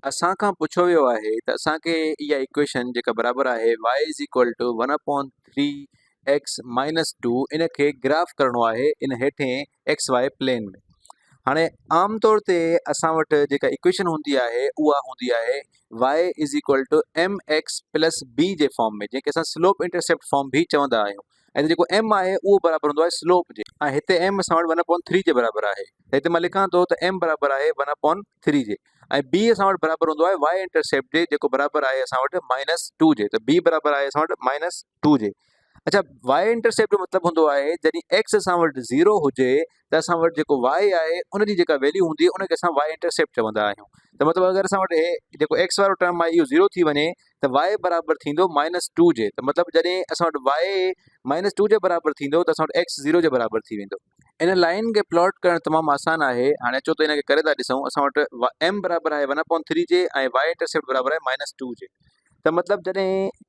اسان کان پڇيو ويو آهي ته اسان کي اها ايڪويشن جيڪا برابر آهي y one upon three x minus two ان کي گراف ڪرڻو آهي ان هيٺين ايڪس واء پلين ۾. هاڻي عام طور تي اسان وٽ جيڪا ايڪويشن هوندي آهي اها هوندي آهي y ايڪس پلس بي جي فارم ۾ جنهن کي اسان سلوپ انٽرسيپٽ فارم به چوندا آهيون ۽ ته جيڪو ايم آهي اهو برابر هوندو آهي سلوپ جي ۽ هتي ايم اسان وٽ ون اپون ٿري جي برابر آهي ته هتي مان لکان ٿو ته ايم برابر آهي ون اپون ٿري جي ۽ بي اسان وٽ برابر هوندو آهي وائي انٽرسيپٽ جي جيڪو برابر آهي اسان وٽ مائنس ٽو جي ته بي برابر آهي اسان وٽ مائنس ٽو جي اڇا وائي انٽرسيپٽ جو مطلب هوندو آهي جڏهن ايڪس اسان وٽ زيرو هجي ته اسان وٽ جيڪو وائي آهي ان جي جيڪا ويليو هوندي ان کي اسان وائي انٽرسيپٽ چوندا آهيون ته مطلب اگر اسان وٽ هي جيڪو ايڪس وارو ٽرم آهي اهو زيرو ٿي وڃي ته وائي برابر ٿيندو مائنس ٽو جي ته مطلب جڏهن اسان وٽ وائي مائنس ٽو جي برابر ٿيندو ته اسان وٽ ايڪس زيرو جي برابر ٿي ويندو ان لائن کي پلاٽ ڪرڻ تمام آسان آهي هاڻي اچو ته ان کي ڪري ٿا ڏسون اسان وٽ ايم برابر آهي ون اپون ٿري جي ۽ وائي انٽرسيپٽ برابر آهي مائنس ٽو جي ته مطلب جڏهن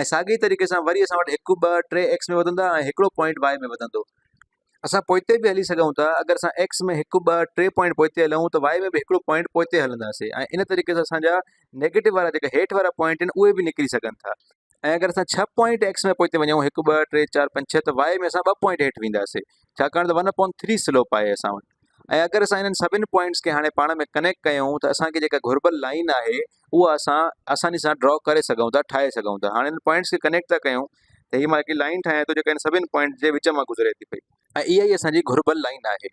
۽ ساڳي ئي طريقي سان وري اسان وٽ هڪ، ٻه، ٽي ايڪس ۾ وڌندا ۽ هڪڙو پوائنٽ واء ۾ وڌندو. اسان پوئتي به هلي سگهون ٿا، اگر اسان ايڪس ۾ هڪ، ٻه، ٽي پوائنٽ پوئتي هلون ته واء ۾ به هڪڙو پوائنٽ پوئتي هلنداسين ۽ ان طريقي سان اسان جا نيگيٽو وارا جيڪا هيٺ وارا پوائنٽ آهن اهي به نڪري سگهن ٿا ۽ اگر اسان ڇهه پوائنٽ ايڪس ۾ پوئتي وڃون هڪ، ٻه، ٽي، چار، پنج، ڇهه ته واء ۾ اسان ٻه پوائنٽ هيٺ وينداسين ڇاڪاڻ ته ون اپون ٿري سلوپ آهي اسان وٽ ۽ اگر اسان انهن سڀني پوائنٽس کي هاڻي پاڻ ۾ ڪنيڪٽ ڪيون ته اسان کي جيڪا گهربل لائين آهي اهو اسان آساني سان ڊرا ڪري سگهون ٿا ٺاهي سگهون ٿا هاڻي ان پوائنٽس کي ڪنيڪٽ ٿا ڪيون ته هي مان هڪڙي لائين ٺاهيان ٿو جيڪا ان سڀني پوائنٽس جي وچ مان گذري ٿي پئي ۽ اها ئي اسان جي گهربل لائين آهي.